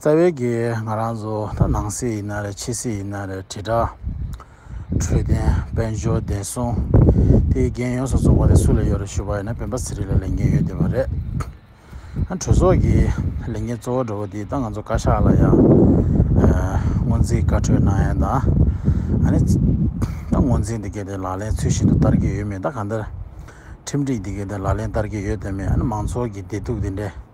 རྩ་བའི་གེགས་ང་རང་ཚོ་ད་ནང་སྲིད་ཡིན་ན་རེད་ཕྱི་སྲིད་ཡིན་ན་རེད་དྲིལ་བསྒྲགས། འཕྲོད་བསྟེན་དཔལ་འབྱོར་བདེ་སྲུང། དེའི་འགན་ཡོངས་སུ་རྫོགས་པ་དེ་སུ་ལས་ཡོད་རེད་ཞུས་པ་ཡིན་ན་བོན་པ་ཟེར་རིགས་ལ་ལས་འགན་ཡོད་བསྡད་པ་རེད། གྲོས་ཚོགས་ཀྱི་ལས་འགན་གཙོ་བོ་འགྲོ་བ་འདི་ད་ང་ཚོ་བཀའ་ཤག་ལ་ཡང་སྔོན་རྩིས་བཀའ་འཁྲོལ་གནང་ཡང་ད་ནི་ད་སྔོན་རྩིས་འདི་སྐད་དེ་ལག་ལེན་ཚུལ་བཞིན་དུ་བསྟར་གྱི་ཡོད་མེད་ད་གང་ལྟར་ཁྲིམས་སྒྲིག་འདི་སྐད་དེ་ལག་ལེན་བསྟར་གྱི་ཡོད་དོན་མེད་ཨ་ནི་མང་ཚོགས་ཀྱི་བདེ་སྡུག་འདི་འདྲའི་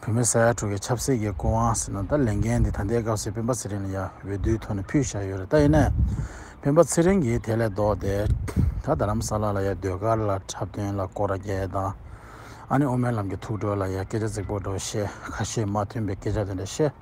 བོད་མི་ས་ཡ་དྲུག་གི་ཆབ་སྲིད་ཀྱི་སྐུ་དབང་ཟེར་ན་ད་ལས་འགན་འདི་ད་ལྟའི་སྐབས་སུ་སྤེན་པ་ཚེ་རིང་ལ་ཡ་འོས་བསྡུའི་ཐོག་ནས་ཕུལ་བཞག་ཡོད་རེད་ད་ཡིན་ནའི་སྤེན་པ་ཚེ་རིང་གིས་དེ་ལས་ལྡོག་སྟེ་ད་རྡ་རམ་ས་ལ་ལ་ཡ་ཟློས་གར་ལ་འཁྲབ་སྟོན་ལ་སྐོར་རྒྱལ་དང་ཨ་ནེ་དབུ་མའི་ལམ་གྱི་ཐུགས་གྲོལ་ལ་ཡ་སྐད་ཆ་རྫིག་པོ་འགྲོ་བཤད་ཁ་ཤས་མ་མཐུན་པའི་སྐད་ཆ་དེ་འདྲ་བཤད།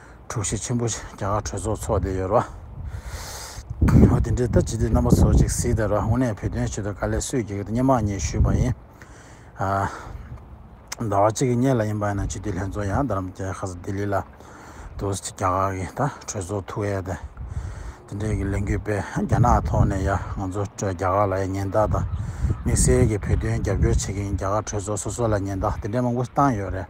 དྲུག་བཞི་ཆེན་པོ་བཞི་རྒྱ་གར་གྲོས་ཚོགས་ཚོགས་བསྡད་ཡོད་རེད། འོ་དེ་འདྲའི་ལྟ་ཇི་སྟེ་རྣམ་པ་ཚོ་གཅིག་གཟིགས་དང་ར་དངོས་གནས་བོད་དོན་ཆེད་དུ་དཀའ་ལས་སུས་བགྱིས་ཀྱི་སྙེ་མ་གཉིས་ཞུས་པ་ཡིན། ཟླ་བ་གཅིག་གི་གཉེར་ལ་ཡིན་པ་ཡིན་ན་སྤྱི་འཐུས་ལྷན་ཚོགས་ཡང་རྡ་རམ་རྒྱལ་ཁ་ས་ལྡི་ལི་ལ་འདུག་རྒྱ་གར་གྱི་ད་གྲོས་ཚོགས་ཐུགས་ཡས་དེ་དེ་འདྲའི་གི་ལས་འགུལ་སྤེལ་རྒྱ་ནག་ཐོག་ནས་ཡ་ང་ཚོ་རྒྱ་གར་ལ་ཡ་ཉེན་བརྡ་དང་དམིགས་བསལ་གྱི་བོད་དོན་རྒྱབ་སྐྱོར་བྱེད་ཀྱི་ཡིན་རྒྱ་གར་གྲོས་ཚོགས་སོ་སོ་ལ་ཉེན་བརྡ་དེ་འདྲའི་མང་པོ་བཏང་ཡོད་རེད།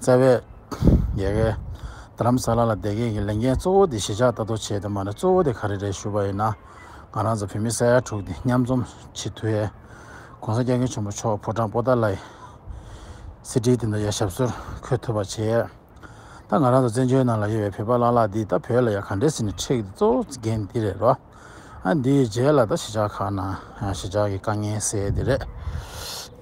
བཙལ་བས། རྒྱལ་ཁའི། རྡ་རམ་ས་ལ་ལ་བསྡད་མཁན་གྱི་ལས་འགན་གཙོ་བོ་དེ་གཞིས་ཆགས་ལྟ་རྟོག་བྱེད་དེ་མ་རེད་གཙོ་བོ་དེ་ག་རེ་རེད་ཞུ་བ་ཡིན་ན། ང་རང་ཚོ་བོད་མི་ས་ཡ་དྲུག་དེ་མཉམ་འཛོམས་བྱེད་དུས་ཨེ། གོང་ས་སྐྱབས་མགོན་ཆེན་པོ་མཆོག་ཕོ་བྲང་པོ་ཏཱ་ལའི། གསེར་ཁྲིའི་སྟེང་དུ་ཡ་ཞབས་སོར་འཁོད་ཐུབ་པ་བྱས། ད་ང་རང་ཚོ་བཙན་བྱོལ་ནང་ལ་ཡོད་པའི་བོད་པ་ལ་ལ་འདིས་ད་བོད་ལ་ཡ་ག་འདྲེ་ཟིན་ནས་འཁྲེགས་འདི་གཙོ་བོ་འགན་འདི་རེད་རོ། ཨ་འདིའི་རྗེས་ལ་ད་གཞིས་ཆགས་ཁག་ནང་གཞིས་ཆགས་ཀྱི་དཀའ་ངལ་སེལ་འདི་རེད།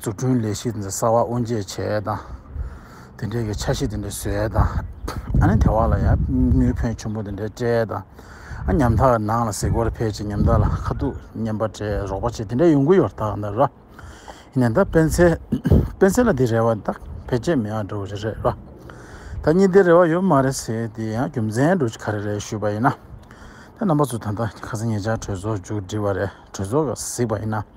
འཛུགས་སྐྲུན་ལས་གཞི་འདི་གསར་བ་དབུ་འབྱེད་བྱས་དང་དེ་འབྲེལ་གྱི་འཆར་གཞི་དེ་འདྲ་བཟོས་དང་ཨ་ནི་དེ་བ་ལ་ཡང་དངུལ་ཕོན་ཆུང་པོ་དེ་འདྲ་སྤྲད་དང་ཨ་ཉམ་ཐག་ནང་ལ་གཟིགས་སྐོར་ཕེབས་ཅིང་ཉམ་ཐག་ལ་ཁ་ཐུག་བརྙན་པར་སྤྲད་རོགས་པ་བྱེད་དེ་འདྲ་ཡོང་གི་ཡོད་དག་འདི་ར་ཡིན་ན་ད་སྤེན་ཚེ་སྤེན་ཚེ་ལ་དེ་རེ་བ་དག་ཕལ་ཆེར་མི་ཡག་འགྲོ་གི་རེད་རེད་ར་ད་གཉིས་དེ་རེ་བ་ཡོད་མ་རེད་ཟེར་དེ་ཡང་རྒྱུ་མཚན་འགྲོ་གི་ག་རེ་རེད་ཞུས་པ་ཡིན་ན་ད་རྣམ་པ་ཚོ་ད་ལྟ་ཁ་སང་ངེད་ཅག་གྲོས་ཚོགས་མཇུག་བསྒྲིལ་བ་རེད་གྲོས་ཚོགས་ག་གཟིགས་པ་ཡིན་ན།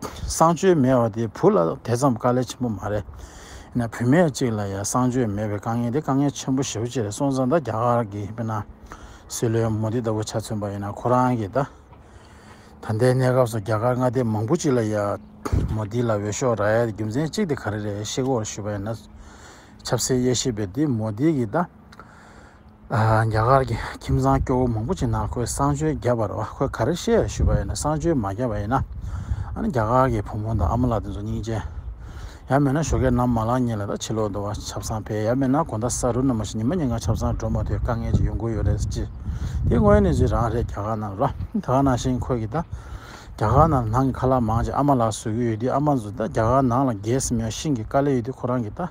གསང་སྤྱོད་མེད་བ་དེ་བུ་ལ་དེ་ཙམ་དཀའ་ལས་ཆེན་པོ་མ་རེད། ཡིན་ན་བུད་མེད་ཅིག་ལ་ཡང་གསང་སྤྱོད་མེད་པའི་དཀའ་ངལ་དེ་དཀའ་ངལ་ཆེན་པོ་ཞེ་བོ་ཅི་རེད་སོང་ཙང་ད་རྒྱ་གར་གྱི་དཔེར་ན། སྲིད་བློན་མོ་དི་ལྟ་བུ་ཆ་མཚོན་པ་ཡིན་ན་ཁོ་རང་གི་ད་ལྟའི་གནས་སྐབས་སུ་རྒྱ་གར་མངའ་སྡེ་མང་པོ་ཅིག་ལ་ཡང་མོ་དི་ལ་འོས་ཤོག་རག་ཡ་དེ་རྒྱུ་མཚན་གཅིག་དེ་ག་རེ་རེད་ཤེས་སྒོར་ཞུས་པ་ཡིན་ན། ཆབ་སྲིད་དབྱེ་ཞིབ་པས་དེ་མོ་དི་གི་ད། རྒྱ་གར་གྱི་ཁྱིམ་ཚང་སྐྱོ་བོ་མང་པོ་ཅིག་ནང་ཁོས་བསང་མཆོད་བརྒྱབ་པར་ཁོས་ག་རེ་ཤེས་ཞུས་པ་ཡིན་ན་བསང་མཆོད་མ་བརྒྱབ་པ་ཡིན་ན་ནི་རྒྱ་གར་གྱི་བུ་མོ་དང་ཨ་མ་ལགས་དེ་ཚོ་སྙིང་རྗེ། ཡང་མེད་ན་ཞོ་ཁའི་ནམ་མ་ལངས་ཉིན་ལ་ད་ཕྱི་ལོག་འདུག་བ་ཆབ་གསང་འཕེལ་ཡང་མེད་ན་གོང་ད་ས་རུ་ནུ་མ་ཞིག་ཉི་མ་ཉིན་གང་ཆབ་གསང་འགྲོ་མ་ཐུབ་དཀའ་ངལ་ཅིག་ཡོང་དགོས་ཡོད་རེད་ཅེས་དེ་དངོས་གནས་ཚུལ་རང་རེད་རྒྱ་གར་ནང་རོ་ད་ག་ནང་བཞིན་ཁོས་ཀྱིས་ད་རྒྱ་གར་ནང་ནང་གི་ཁ་ལག་མང་ཅིག་ཨ་མ་ལགས་བཟོས་ཀྱི་ཡོད་དུས་ཨ་མ་ཚོ་ད་རྒྱ་གར་ནང་ལ་རྒས་སམ་ཡང་ཤིང་གི་དཀའ་ལས་ཡོད་དུས་ཁོ་རང་གིས་ད།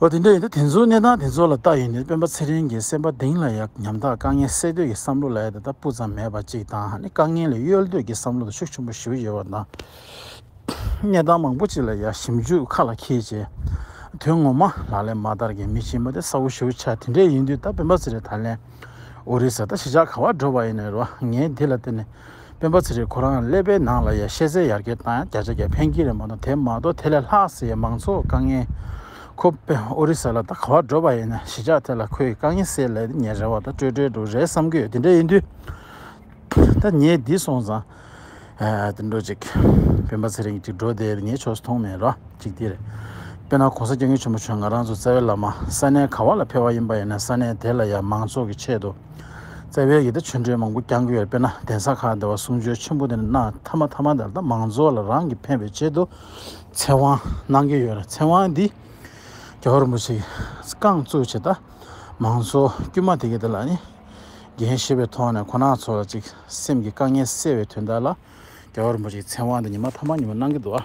ཨོ་དེ་འདྲ་ཡིན་ན་དེ་ཚོའི་གནས་སྟངས་དེ་ཚོ་ལ་ལྟ་ཡོད་ནི་སྤེན་པ་ཚེ་རིང་གི་སེམས་པ་གདེང་ལ་ཡག་ཉམ་ཐག་དཀའ་ངལ་སེལ་འདོད་ཀྱི་བསམ་བློ་ལ་ཡང་ད་ལྟ་སྤུ་ཙམ་མེད་པ་ཅིག་དང་ནི་དཀའ་ངལ་ལས་གཡོལ་འདོད་ཀྱི་བསམ་བློ་དང་ཤུགས་ཆེན་པོ་ཞུ་ཡོད་པ་དང། གནས་སྟངས་མང་པོ་ཅིག་ལ་ཡང་ཞིབ་འཇུག་ཁ་ལ་འཁྱེར་རྗེས་དོན་ངོ་མ་ལག་ལེན་མ་བསྟར་གྱི་མི་ཆེན་པོ་དེ་གསལ་བོ་ཞུ་འཆར་དེ་འདྲས་ཡིན་དུས་ད་སྤེན་པ་ཚེ་རིང་ད་ལན་ཨོ་རི་ས་ད་གཞིས་ཆགས་ག་བར་འགྲོ་བ་ཡིན་ནི་རེད་བ་ངས་འདི་ལ་བརྟེན་ནས་སྤེན་པ་ཚེ་རིང་ཁོ་རང་ཀླད་པའི་ནང་ལ་ཡ་ཤེས་ཟེར་ཡར་རྒྱས་བཏང་ཡ་བརྒྱ་ཆ་བརྒྱ་ཕན་གྱི་རེད་མ་གཏོགས་དེ་མ་གཏོགས་དེ་ལས་ལྷག་ཟེར་ཡ་མང་ཚོགས་དཀའ་ངལ། ཁོ་སྤེན་ཨོ་རི་ས་ལ་ད་ག་བར་འགྲོ་པ་ཡིན་ན་གཞིས་ཆགས་དེ་ལ་ཁོ་ཡི་དཀའ་ངལ་སེལ་ལད་ཉེ་རེད་བ་ད་སྤྲོས་བྲལ་འདུག་རེད་བསམ་གྱི་ཡོད་དེ་འདྲ་ཡིན་དུས་ད་ཉེ་འདི་སོང་ཙང་དེ་འགྲོ་ཅིག་སྤེན་པ་ཚེ་རིང་ཅིག་འགྲོ་དེ་ཉེ་ཕྱོགས་སུ་མཐོང་མེད་རོ་ཅིག་དེ་རེད་དཔེར་ན་གོང་ས་སྐྱབས་མགོན་ཆེན་པོ་བྱོན་ང་རང་ཚོ་རྩ་བའི་བླ་མ་ས་གནས་ག་བ་ལ་ཕེ་བ་ཡིན་པ་ཡིན་ན་ས་གནས་དེ་ལ་ཡ་མང་ཚོགས་ཀྱི་ཆེད་དུ། བརྩེ་བའི་ཡི་དྭགས་ཆོས་འབྲེལ་མང་པོ་བསྐྱང་གི་ཡོད་དཔེར་ན་གདན་ས་ཁག་འདི་བ་གསུང་ཆོས་ཆེན་པོ་འདི་ནས་གནང་ཐ་མ་ཐ་མ་ད་ལྟ་མང་ཚོགས་ལ་རང་གི་ཕན་པའི་ཆེད་དུ་ཚེ་དབང་གནང་གི་ཡོད་རེད་ཚེ་དབང་འདི་རྒྱ་གར་མོ་ཆིག་བསྐང་གཙོས་བྱེད་ད་མང་ཚོགས་དཀྱུས་མ་དེ་གས་འདི་ལ་ནི་འགན་ཞེས་པའི་ཐོག་ནས་ཁོ་ན་ཚོ་ལ་ཅིག་སེམས་ཀྱི་དཀའ་ངལ་སེལ་བའི་དོན་དག་ལ་རྒྱ་གར་མོ་ཆིག་ཚེ་དབང་འདི་ཉི་མ་ཐ་མ་ཉི་མ་གནང་གི་འདུག་ཨ།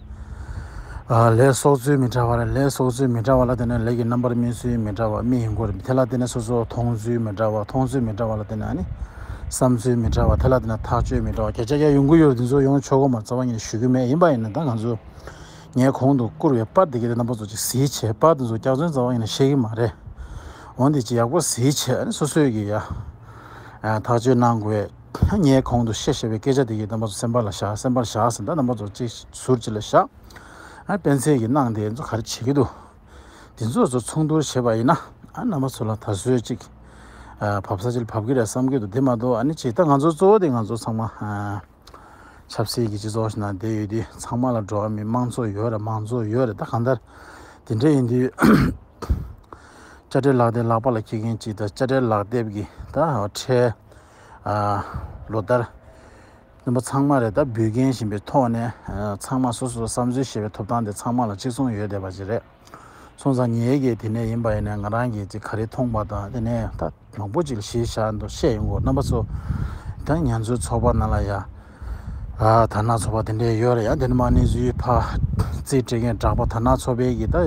ལས་སོགས་ཚུལ་མི་འདྲ་བ་རེད། ལས་སོགས་ཚུལ་མི་འདྲ་བ་ལ་བརྟེན་ནས་ལས་ཀྱི་རྣམ་པར་སྨིན་ཚུལ་མི་འདྲ་བ་རྨིས་ཡིན་སྐོར་རེད། དེ་ལ་བརྟེན་ནས་སོ་སོར་མཐོང་ཚུལ་མི་འདྲ་བ་མཐོང་ཚུལ་མི་འདྲ་བ་ལ་བརྟེན་ནས་བསམ་ཚུལ་མི་འདྲ་བ་དེ་ལ་བརྟེན་ནས་ཐག་གཅོད་མི་འདྲ་བ་བརྒྱ་ཆ་བརྒྱ་ཡོང་གི་ཡོད་རེད་འདི་ཚོ་ཡོང་ཆོག་གོ་མ་རྩ་བ་ཉིད་ནས་ཞུ་གི་མེད་ཡིན་པ་ཡིན་ན་ད་ང་ཚོས་ངས་གོང་དུ་བསྐུར་བའི་པར་དེ་གའི་རྣམ་པ་ཚོ་ཅིག་གཟིགས་བྱས་པར་དེ་ཚོ་སྐྱག་རྫུན་རྩ་བ་ཉིད་ནས་བཤད་གི་མ་རེད་འོན་ཏེ་ཅིག་ཡག་པོ་གཟིགས་བྱས་ནས་སོ་སོས་ཀྱིས་ཡ་ཐག་གཅོད་གནང་དགོས། ངས་གོང་དུ་བཤད་ཞེས་པའི་སྐད་ཆ་དེ་ཡིས་རྣམ་པ་ཚོ་སེམས་པ་ལ་བཞག་སེམས་པ་ལ་བཞག་ཟེར་ན་རྣམ་པ་ཚོ་ཅིག་ཟུར་ཅིག་ལ་བཞག་ཨ་སྤེན་ཚེ་ཡིས་གནང་དེ་ཚོ་ག་རེ་བྱེད་ཀྱི་འདུག་དེ་ཚོ་ཚོ་ཚོགས་འདུར་བྱེད་པ་ཡིན་ན་ཨ་རྣམ་པ་ཚོ་ལ་ད་གཟོད་ཅིག་བབ་ས་ཅིག་བབ་ཀྱི་རེད་བསམ་གྱི་འདུག་དེ་མ་གཏོགས་ཨ་ནི་ཅིག་ད་ང་ཚོ་གཙོ་བོ་དེ་ང་ཚོ་ཚང་མ་ཆབ་སྲིད་ཀྱི་སྤྱི་ཚོགས་ཤིག་ནང་བསྡད་ཡོད་དུས་ཚང་མ་ལ་འགྲོ་བ་མིའི་དམངས་ཚོགས་ཡོད་རེད་མང་གཙོ་ཡོད་རེད་ད་གང་ལྟར་དེ་འདྲ་ཡིན་དུས་དཔྱ་ཁྲལ་ལག་དེབ་ལག་པ་ལ་འཁྱེར་མཁན་ཅིག་ད་དཔྱ་ཁྲལ་ལག་དེབ་ཀྱིས་ད་ཁྲལ། ལོ་ལྟར། བཙུན་པ་ཚང་མ་རེ་ད་འབུལ་མཁན་ཞིང་པའི་ཐོག་ནས་ཚང་མ་སོ་སོར་བསམ་ཚུལ་བཤད་པའི་ཐོབ་ཐང་དེ་ཚང་མ་ལ་གཅིག་མཚུངས་ཡོད་བསྡད་པ་ཅིག་རེད། སོང་ཙང་ཉེ་གེ་དེ་ནས་ཡིན་པ་ཡིན་ནས་ང་རང་གིས་ཅིག་ག་རེ་མཐོང་པ་དང་དེ་ནས་ད་མང་པོ་ཅིག་གཞིས་བཞག་འདུག་བཤད་ཡོང་གོ་རྣམ་པ་ཚོ། ད་ང་ཚོའི་ཚོགས་པ་ནང་ལ་ཡ། དར་ནག་ཚོགས་པ་དེ་འདྲས་ཡོད་རེད་ཡ་དེ་ནས་མ་ནི་བཟོའི་ཕ། རྩིས་སྤྲད་མཁན་གྲགས་པ་དར་ནག་ཚོགས་པའི་གི་ད་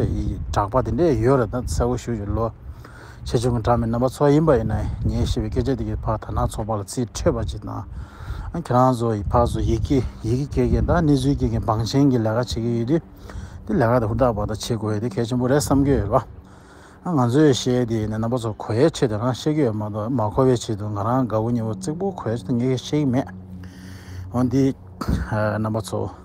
གྲགས་པ་དེ་འདྲས་ཡོད་རེད་ད་གསལ་བོ་ཞུ་ལོ། ཆེ་ཆུང་གི་གྲངས་མེད་རྣམ་པ་ཚོགས་ཡིན་པ་ཡིན་ན་ངས་བཤད་པའི་སྐད་ཆ་དེ་གའི་ཕག་དར་ནག་ཚོགས་པ་ལ་རྩིས་འཕྲོད་པ་ཅིག་དང། ཁྱེད་རང་ཚོ་ཡི་ཕག་ཚོ་ཡི་གེ་ཡི་གེ་སྐྱེལ་མཁན་དང་གནས་ཚུལ་སྐྱེལ་མཁན་འབངས་ཆེན་གྱི་ལས་ཀ་བྱེད་ཀྱི་ཡོད་དུས། དེ་ལས་ཀ་དེ་ཧུར་ཐག་བར་ཐག་བྱེད་དགོས་ཡོད་དེ་གལ་ཆེན་པོ་རེད་བསམ་གྱི་ཡོད་ལ། ང་ཚོས་བཤད་དེ་ནི་རྣམ་པ་ཚོ་གོ་ཡའི་ཆེད་དུ་རང་བཤད་ཀྱི་ཡོད་མ་གཏོགས་མ་གོ་བའི་ཆེད་དུ་ང་རང་དགའ་བོ་ཉེ་བོ་རྩེག་པོ་གོ་ཡའི་ཆེད་དུ་ངས་བཤད་ཀྱི་མེད། འོན་ཏེ། རྣམ་པ་ཚོ།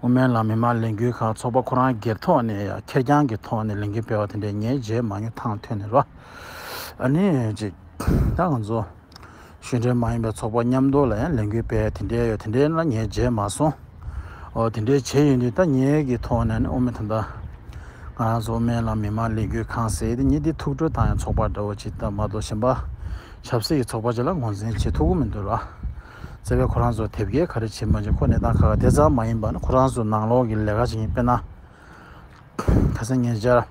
དབུ་མའི་ལམ་མི་མང་ལས་འགུལ་ཁག་ཚོགས་པ་ཁོ་རང་སྒེར་ཐོག་ནས་ཡང་ཁེར་རྐྱང་གི་ཐོག་ནས་ལས་འགུལ་སྤེལ་བ་དེ་འདྲའི་ངའི་རྗེས་མ་ཉོ་ཐང་ཐོན་ནས་ལོ་ཨ་ནེ་གཅིག་ད་ང་ཚོ་གཞུང་འབྲེལ་མ་ཡིན་པའི་ཚོགས་པ་མཉམ་སྡོད་ལ་ཡང་ལས་འགུལ་སྤེལ་དེ་འདྲའི་ཡོད་དེ་འདྲའི་ན་ངའི་རྗེས་མ་སོང་འོ་དེ་འདྲའི་བྱས་ཡོད་འདུག་ད་ངེད་ཀྱི་ཐོག་ནས་ནི་དབུ་མི་ད་ང་ཚོ་དབུ་མའི་ལམ་མི་མང་ལས་འགུལ་ཁང་ཟེར་དེ་ཉིད་འདི་ཐུགས་སྤྲོ་དང་ཡང་ཚོགས་པ་འདྲ་བོ་ཅིག་ད་མ་གཏོགས་གཞན་པ་ཆབ་སྲིད་ཀྱི་ཚོགས་པ་ཅིག་ལ་ངོ་འཛིན་བྱེད་ཐུབ་ཀྱི་མི་འདུག་ལ། བརྩེ་བས་ཁོ་རང་ཚོར་དེབ་སྐྱེལ་ག་རེ་བྱེད་མ་བྱེད་ཁོ་གནས་སྟངས་ཁ་ཁ་དེ་ཙམ་མ་ཡིན་པར་ཁོ་རང་ཚོ་ནང་ལོག་གི་ལས་ཀ་བྱེད་མཁན་དཔེར་ན། ཁ་སང་ཉེ་ཆར།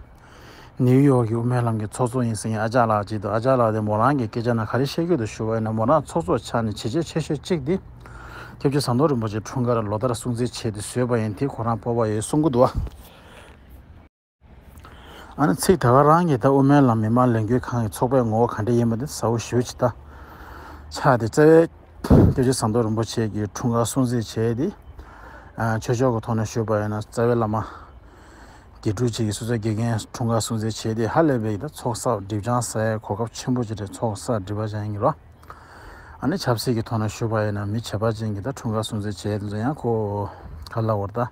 ནིའུ་ཡོག་གི་དབུ་མའི་ལམ་གྱི་ཚོགས་གཙོ་ཡིན་ཟེར་མཁན་ཨ་ཅག་ལགས་ཅིག་འདུག་ཨ་ཅག་ལགས་དེ་མོ་རང་གི་སྐད་ཆ་ནང་ག་རེ་བཤད་ཁུལ་དུ་ཞུ་བ་ཡིན་ན་མོ་རང་ཚོགས་གཙོ་ཆགས་ནས་བྱས་རྗེས་ཆེ་ཤོས་གཅིག་དེ། སྐྱབས་རྗེ་ཟམ་གདོང་རིན་པོ་ཆེ་འཁྲུངས་སྐར་ལོ་ལྟར་སྲུང་བརྩི་བྱས་ཏེ་བཟོས་པ་ཡིན་དེ་ཁོ་རང་སྤོབས་པ་ཡོད་གསུང་གི་འདུག། ཨ་ནི་ཚིག་ད་ག་རང་གིས་ད་དབུ་མའི་ལམ་མི་མང་ལས་འགུལ་ཁང་གི་ཚོགས་པའི་ངོ་བོ་ག་འདྲ་ཡིན་པ་དེ་གསལ་བོ་ཞུ་ཅི་ད། ཕྱག་དེ་བཙལ་བས། སྐྱོ་ཆེ་ཟམ་གདོང་རིན་པོ་ཆེ་གིས་འཁྲུངས་སྐར་སྲུང་བརྩི་བྱས་ཏེ། ཆོས་ཕྱོགས་ཀྱི་ཐོག་ནས་ཞུས་པ་ཡིན་ན་རྩ་བའི་བླ་མ། དགེ་ཕྲུག་བཅས་ཀྱི་སོ་སོའི་དགེ་རྒན་འཁྲུངས་སྐར་སྲུང་བརྩི་བྱས་ཏེ་ཧ་ལས་པའི་ཡིན་ད་ཚོགས་བསགས་སྒྲིབ་སྦྱང་ས་ཡའི་གོ་སྐབས་ཆེན་པོ་ཅི་རེད་ཚོགས་བསགས་སྒྲིབ་པ་ཅན་ཡིན་རོ། ཨ་ནི་ཆབ་སྲིད་ཀྱི་ཐོག་ནས་ཞུས་པ་ཡིན་ན་མི་བྱེད་པ་ཅན་གྱིས་ད་འཁྲུངས་སྐར་སྲུང་བརྩི་བྱས་ཏེ་འཛུལ་ཡང་ཁོ། ག་ལ་བོར་ད།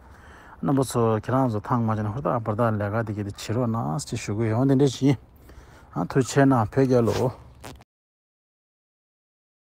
རྣམ་པ་ཚོ་ཁྱེད་རང་ཚོ་ཐང་མ་ཅན་ཧུར་ཐག་འབུར་ཐག་ལས་ཀ་དེ་གི་དེ་བྱེད་རོགས་གནང་ཅེས་ཞུ་དགོས་ཡོང་དེ་འདྲས་བྱིན་ཨང་ཐུགས་ཆེ་ན་བོད་རྒྱལ་ལོ།